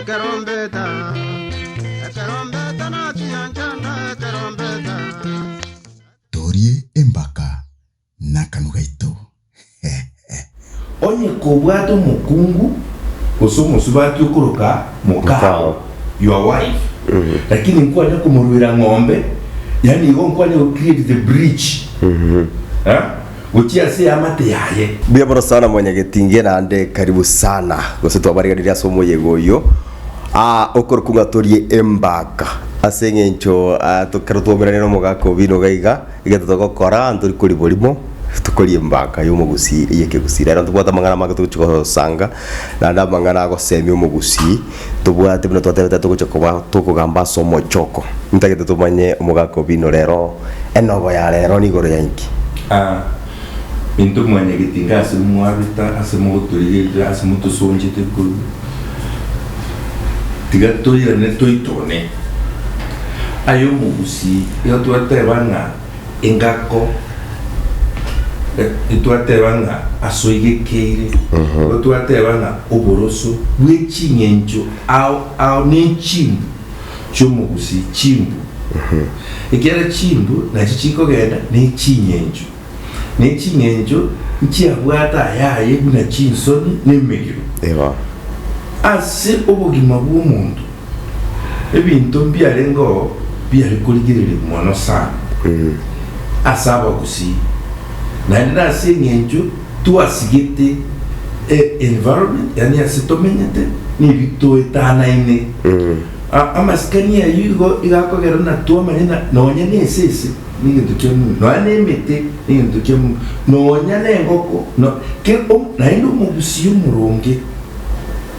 Ekerombeta, ekerombeta nachiya nchanda ekerombeta. Torie embaka nakanu gaito Onye kobwate omokungu gose omosubati okoroka mokao, your wife, lakini nkwanya komoruera ng'ombe, yaani igo nkwanya go create the bridge, eh? gochia ase eamate yaye. Mbuya mono sana mwanyagetinge naende karibu sana gose twabariganirie ase omoyega oyio aa okorokwa ng'a torie embaka ase eng'encho aa ekero twaumeranirie na omogaka obi nigo iga egento togokora ntori koria borimo tokoria embaka ya omogusii eye ekegusii. Rero ntobwate amang'ana amange togochi gosanga naende amang'ana agosemia omogusii. Tobwate buna twatebete togocha koba tokogamba ase omochoko. Ntagete tomanye omogaka o bino rero. Enobo ya rero nigoro ya inki? A. Intwe mwanya getinga ase mwarita ase mogotorigerera ase motosonchete korwa tiga toirane toitone aye omogusii iga twateba ng'a. Engako e, intwateba ng'a asoigekeire, igo twateba ng'a oboroso bwe ching'encho ao ao nechimbu chi'omogusii, chimbu. Ekiagera chimbu nachio chikogenda neching'encho, neching'encho nchiabwate ayaye buna chinsoni nemegiro. Ase obogima bw'omonto. Ebinto mbiarengeo biare korigereria mono sana ase abagusii, naende ase eng'encho twasigete e environment, yaani ase tomenyete na ebi toetanaine. Amasikani ayio igo igakogera buna twamanya buna nonya na esese negento kia muno, nonya na emete negento kia muno, nonya na engoko, no, ke, naende omogusii omoronge.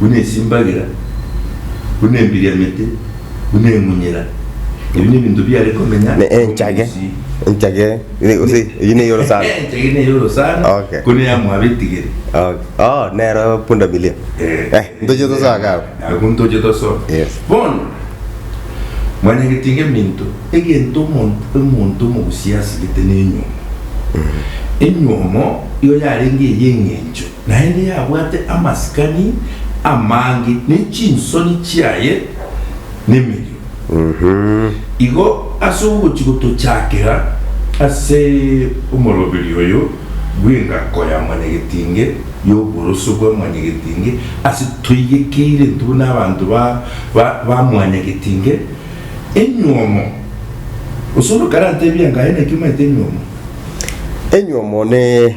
buna esimbagira, buna embiriamete, buna emunyera, ebi nebinto biare komenya Ne enchage. omobisi. Enchage. Ine- gose eyi ne yoro sana. Enchage ne yoro sana, Okay. ko ne yamwa abetigeri. Okay. Oh, nero punda milia. Eh, ntoche tosoke abo. Abwo ntoche tosoke. Yes. Bono, mwanyagetie geminto, egento omonto omonto omogusia asigete nenywomo. Enywomo igo yarenge eye eng'encho. Naende yabwate amasikani amange, ne chinsoni chiaye nemerio. Igo ase ogochia gotochakera ase omoroberio oyo bw'engako ya mwanyagetinge y'oboroso bwa mwanyagetinge, ase toigekeire intwe buna abanto ba mwanyagetinge enyuomo, gose onde okarantebia ng'a aye naki omaete enyuomo. Enyuomo ne.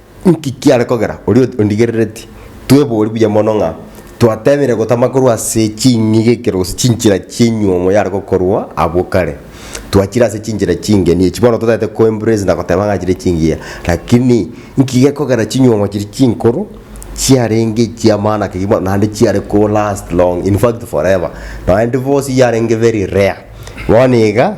Inki kiare kogera oria ondigerereti? Twebori buya mono ng'a twateemire gotama korwa ase ching'ige ekero gose chinchera chi'enyuomo yare gokorwa abwo kare. Twachire ase chinchera chingeni echi bono totagete ko embrace na goteba ng'a chire chingiya. Lakini inki gekogera chinyuomo chiria chinkoro chiarenge echi'amaana ki bono naende chiare ko last long in fact forever. Naende bosi yarenge very rare. Bono iga.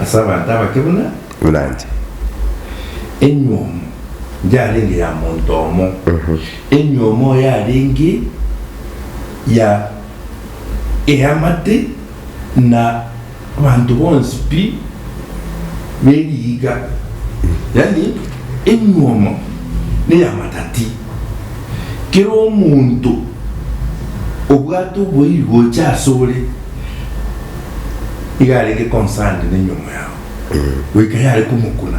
ase abanto abake buna. Buna inche. Enywomo yarenge ya monto omo, enywomo yarenge ya eamate, na abanto bonsi pi be riiga, yaani enywomo neya matati. Kera omonto obwate oboigocha asore. iga arenge concerned nenyomo yao goika yare komokuna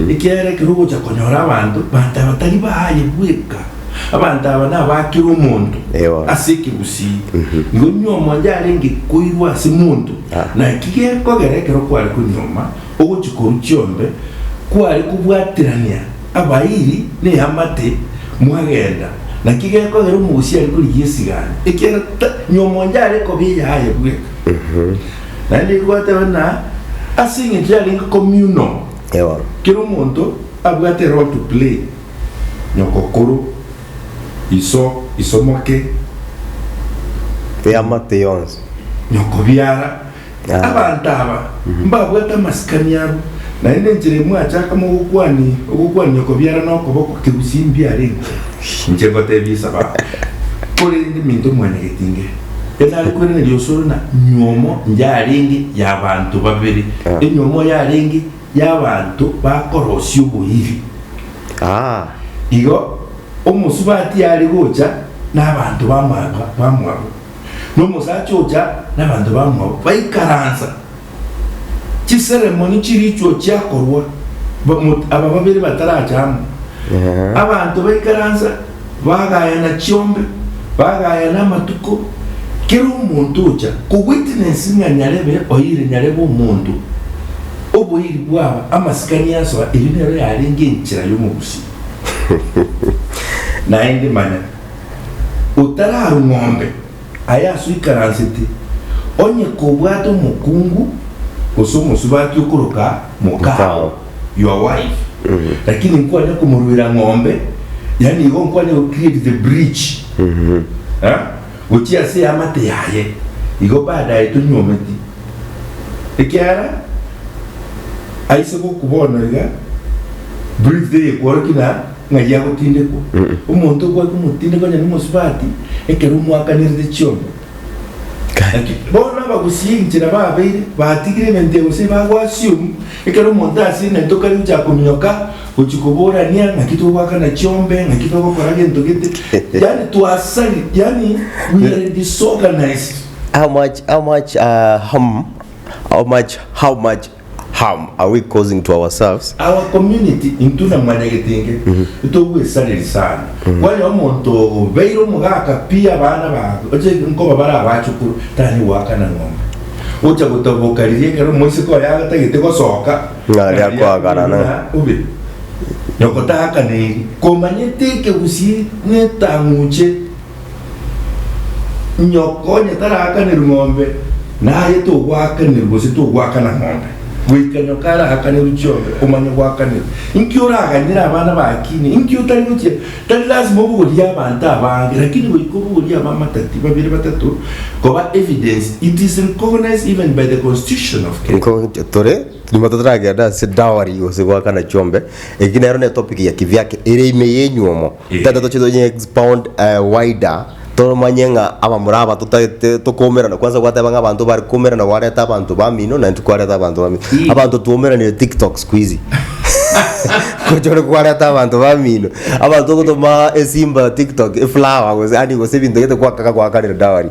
ekiagera ekero ogocha konyora abanto banto aba tari baaye bweka abanto aba nabakera omonto Ewa. ase ekegusii nigo nyomo yarenge koirwa ase monto Ah. naki gekogera ekero kware konyoma ogochi korwa chiombe kware kobwaterania Abairi neamate mwagenda, naki gekogera omogusii are korigia esigani, ekiagera ta nyuoma onde are kobiya aye bweka. Naende nigo gwateba ng'a ase eng'encho yarenge communal, Ewa. kera omonto abwate role to play, nyokokoro, iso, isomoke, Eamate yonsi. nyokobiara, Abanto aba mbabwate amasikani abo, naende enchera imwe achakamo ogokwania ogokwania okobiara na okoboko kegusii mbiarente. Inche ngoteebia esabato, korende minto mwanyegeti inge, Ere nare kwereneria osoro na nywomo yarenge y'abanto babere, enywomo yarenge y'abanto bakorosia oboiri. Igo omosubati are gocha n'abanto bamwabo. na omosacha ocha na abanto bamwabo baikaransa. Chiseremoni chirichio chiakorwa, aba babere batarache amo, abanto baikaransa, bagayana chiombe, bagayana amatuko, kera omonto ocha kowitnessi ng'a nyarebe oire, nyarebe omonto, oboiri bwaba amasikani asoa, erio nero yarenge enchera y'omogusi. Naende manya. otararung'ombe aye asoikaransete, onye kobwate omokungu gose omosubati okoroka mokao, your wife, lakini nkwanya komoruera ng'ombe, yaani igo nkwanya go create the bridge eh, gochia ase eamate yaye, igo baadaye tonyuometi, ekiagera aise goku bono iga bridge teikworoki na. ng'ai agotindekwa. Omonto okwaka omotindeko onye nomosubati ekero omwakanirete chiongo. Gaki bono abagusii enchera babeire batigire emente eye gose ebago assume ekero omonto ase emente okare gochaka kominyoka gochia koborania ng'aki togwakana chiombe ng'aki togokora gento gete yaani twasari yaani we are disorganised. How much how much uh, hum, how much how much harm are we causing to ourselves? Our community intwe na Mwanyagetenge ntogwesareri sana. Kwanyora omonto obeire omogaka pi abana bago oche nkoba bare abachukuru tari goakana ng'ombe. Ocha gotaboka riria ekero omoiseke oye agatagete gosoka Ng'a aria ng'aria akoagara na. ng'a obe nyoko taakana eri komanyete ekegusii netang'uche. Nyoko onye taraakane rng'ombe, naye togwaakanirwa gose togwakana ng'ombe, goika nyoko araakanerwe chiombe, omanye gwakanerwa. Inki oraganyere abana baakine? Inki otari gochia? Tari lasima obogorie abanto abange, lakini goika obogorie abamatati babere batato koba evidence. It is recognized even by the constitution of Kenya. Nko nche tore nyuma totaragenda ase dowry gose goakana chiombe, eki nero ne topic ya kivyake ere ime yenyuomo. Tata toche to expound wider tomanye ng'a abamura aba totagete tokoumerana kwanza gwateba ng'a abanto bare koumerana gwareta abanto bamino na intwe kwareta abanto bamino. Abanto twoumeranire tiktok siku hizi gochore kwareta abanto bamino abanto gotoma esimba tiktok eflower gose ani gose ebinto gete gwakaka gwakarire dowry.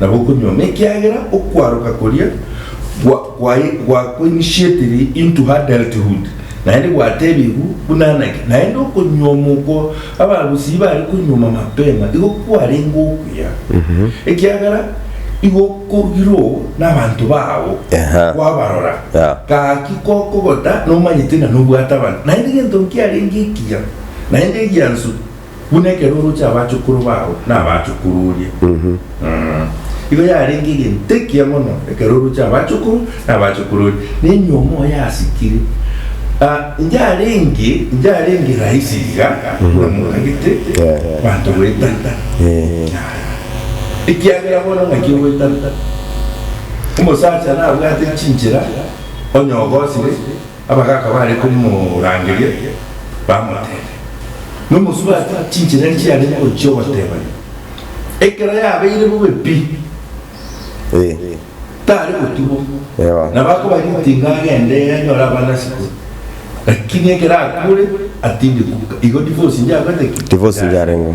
na gokonywa, nekiagera okwaroka koria gwakoinitiatiri into adulthood, naende gwatebigwe buna naki, naende okonywa omoko abagusii bare konyuoma mapema igo kwarenge okuya, ekiagera igo okorugirwo nabanto bao, kwabarora, gaki gokogota nomanyete ng'a nobwate abanto, naende egento nkiarenge ekiya, naende egiansu. Buna ekero oroche abachukuru bao na abachukuru oria, mm, igo yarenge egento ekiya mono ekero oroche abachukuru na abachukuru oria, na enyiomo yasikire. Ah, inche arenge, inche arenge rahisi iga, buna motagete abanto goetana. Ekiagera bono ng'aki ogoetana? Omosacha nabwate chinchera, onye ogosire, Abagaaka baare komorangeria, bamoteebia, Nomosubati, chinchera enchia are ngochia ogotebania, ekero yabeire bobe pi, tare gotubwa, nabo akoba ritinga agende anyore abana ase kwe, lakini ekero akuure, atinde kuka, igo divorce inche akoete ki? Divorce inche arengwe.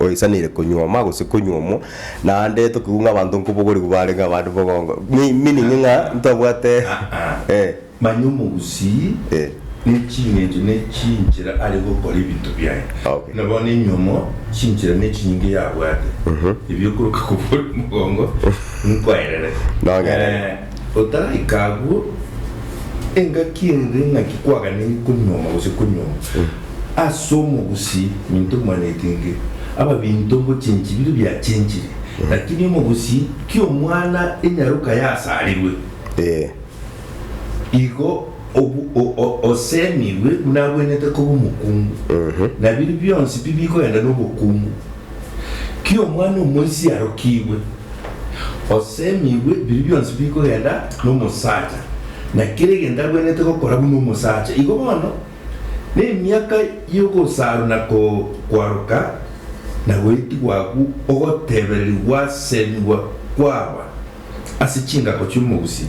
Oisaneire konyuoma gose konyuomwa. Naende tokigwe ng'a abanto nkobogorigwe barenge abande bogongo. Me meaning ng'a ntobwate eh. Manya omogusii Eh. ne chingencho ne chinchera are gokora ebinto biaye. Okay. Buna bono enyuomo chinchera ne chinyinga yabwate ebio okoroka kobogorigwe mogongo nkwaererete. Nong'erere. Eh, otaraika agwo, engaki ere ng'aki kwaganeire konyuoma gose konyuomwa. As'omogusi minto mwanetenge, ababinto ngochenchi biria biachenchire, lakini omogusi ki'omwana enyaroka yasarirwe. Ee. Igo osemirwe buna abwenerete koba omokungu, na biria bionsi pi bikogenda nobokungu. Ki'omwana omoisia arokigwe, osemirwe biria bionsi bikogenda nomosacha, na kera egento abwenerete gokora buna omosacha, igo bono. Nemiaka y'ogosarana koo kwaroka, na goitigwa agwo ogotebereri gwasemigwa kwaba ase chingako chi'omogusi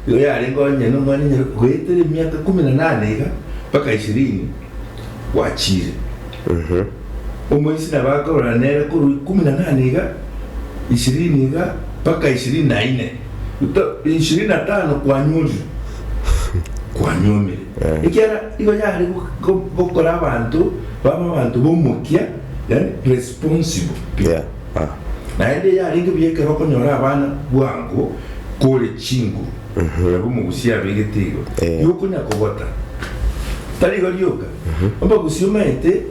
igo yarenge onye nomwana enyare goetera emiaka ikomi na nane iga mpaka ishirini gwachiire. Omoisiri nabo akarora nere korwa ikomi na nane iga ishirini iga mpaka ishirini na ine, ishirini na tano kwanyorire, kwanyuomire. ekiagera nigo yare gokora abanto babe abanto b'omokia, responsible people, naende yarenge buya ekero okonyora abana bwango kore chinguru nabo omogusia abeirete igo, igo okonya kogota. Tari igo rioka, omogusia omanyete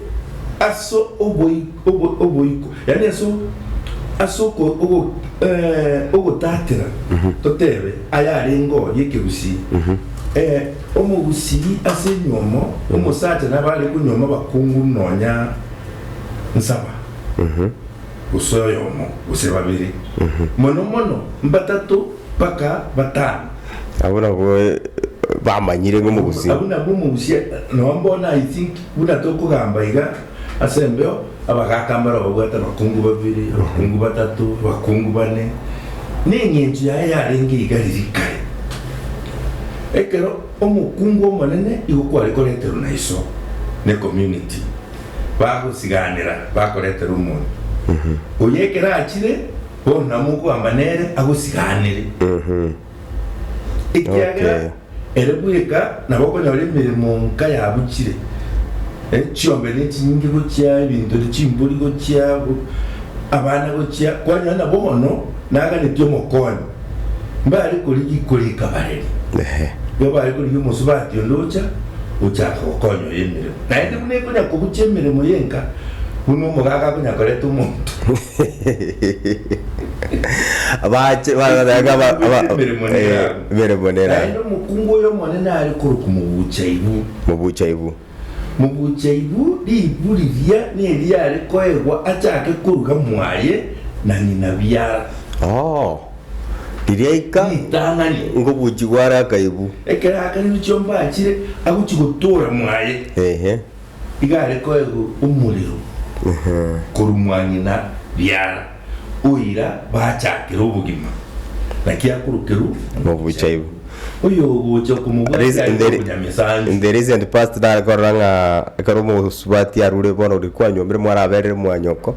ase oboibi. oboiko, yaani ase ogotatera, totebe ayarenge oo y'ekerusii, ee, omogusii ase enyuomo, omosacha nabo are konyuoma bakonguru nonya nsaba, gose oyomo, gose babere, mono mono mbatato mpaka batano. Abwo nabwo bamanyire ng'omogusii. Abwo nabwo omogusii, noo bono I think buna tokogamba iga. Ase embeo abagaaka mbare ababwate abakungu babere, abakungu batato, abakungu bane, neng'encho yaye yarenge iga riria kare. Ekero omokungu omonene igo kware koreterwa na iso ne community, bagosiganera bakoretera omonto oyo ekero achire, bono namo okoamba nere agosiganere. Ekiagera Nokeyo. ere bweka nabo okonyora emeremo nka yabuchire, eh, chiombera echinyinge gochia ebinto ri chimbori gochia go- abana gochia, kwanyora nabo bono naganetie omokonyi, mbare korigia ikoro ikabareri. Ehe. Igo bare korigia omosubati onde ocha gochaka gokonya oyo emeremo. Naende buna ekonya kobucha emeremo y'enka, buna omogaga akonya koreta omonto. Bache bagoteba ng'a aba- aba- Emeremo eh, nerabu. emeremo nera Naende omokungu oy'Omonene are korokwa mobuchaibu. mobuchaibu. Mobuchaibu ribu riria neriyo are koegwa achake koruga mwaye na ng'ina biara. Oo, riria aika Ritang'ani. ngobuchigwa are akaibu. Ekero akaribu chiomba achire, agochi gotoora mwaye. Ehe. Iga are koegwa omorero korwa mwa ng'ina biara, oira bachakera obogima, naki akorokerwa Mobuchaibu. Oyogocha okomobwatia are n'obonyamesansi. In the recent past nare korora ng'a ekero omosubati arure bono rikwanyomire mwaraberire mwanyoko.